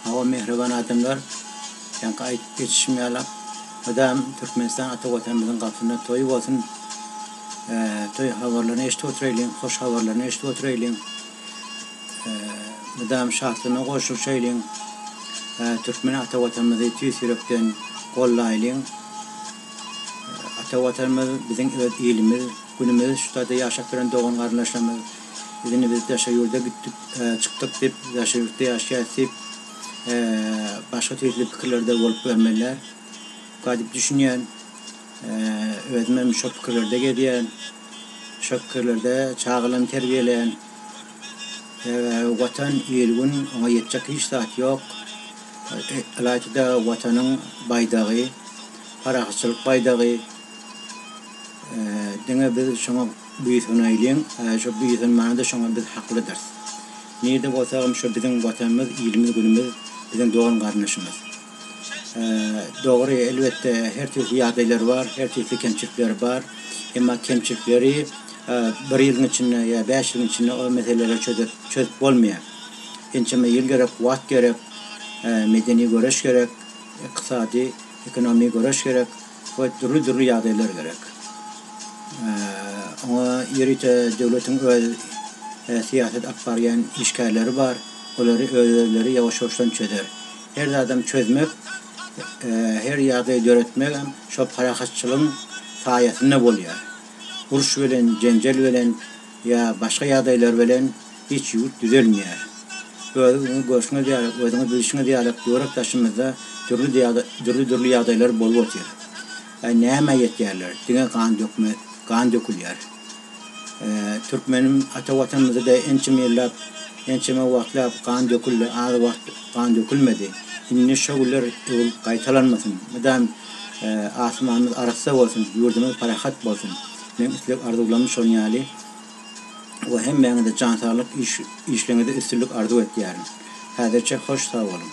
Hawa mähriban adamlar Janky aýdyp geçişiň ýalak Mydam Türkmenistan ata watanymyzyň gapysynda toýy bolsun Toý habarlaryny eşidip otyraýlyň hoş habarlaryny eşidip otyraýlyň Mydam şatlygyna goşulşaýlyň Türkmen ata watanymyzy tüýs ýürekden gollaýlyň Ata watanymyz biziň öz ilimiz günümiz şutada ýaşap ýören dogan garyndaşlarymyz Ýöne biz daşary ýurda gitdik, çykdyk diýip, daşary ýurtda ýaşaýas diýip, başga tüýsli pikirlerde bolup görmeliler. Ka diýip düşünýän. Özüm hem şo pikirlerde gezýän. Şo pikirlerde çagalarmy terbiýeleýän. Watan, il-gün, oňa ýetjek hiç zat ýok. Ylaýta-da Watanyň baýdagy, parahatçylyk baýdagy. Diňe biz şoňa Buýsana iliň, aý şo buýsanmanda şoňa biz haklydyrys. Nirde bolsagam şo biziň Watanymyz, ilimiz, günümiz, biziň dogan-garyndaşymyz. Dogry, elbetde, her türlü ýagdaýlar bar, her türlü kemçilikler bar. Emma kemçilikleri bir ýylyň içinde ýa bäş ýylyň içinde o meseleleri çözüp çözüp bolmaýar. Ençeme ýyl gerek, wagt gerek, medeni göreş gerek, ykdysady, ekonomi göreş gerek. we dürli-dürli ýagdaýlar gerek. Oňa ýörite döwletiň öz syýasat alyp barýan işgärleri bar, olary öz-özleri ýawaş-ýawaşdan çözer. Her zadam çözmek, her ýagdaý döretmegem şol parahatçylygyň saýasynda bolýar. Uruş bilen, jenjel bilen. ýa başga ýagdaýlar bilen hiç ýurt düzelmeýär. Özüňizi görşüňiz ýaly, özüňizi bilşiňiz ýaly börek-daşymyzda dürli-dürli ýagdaýlar bolup otyr. Äý nämä ýetýärler, diňe gan dökme, gan dökülýär. Türkmenim ata watanymyzda-da ençeme ýyllap, ençeme wagtlap gan döküldi, az wagt gan dökülmedi. Indi şo günler öwrülip gaýtalanmasyn, mydam asmanymyz arassa bolsun, ýurdumyz parahat bolsun. Meň isleg arzuwlarym şon ýaly we hemmäňize jan saglyk iş işleňize üstünlik arzuw etýärin. Häzirçe hoş sag boluň.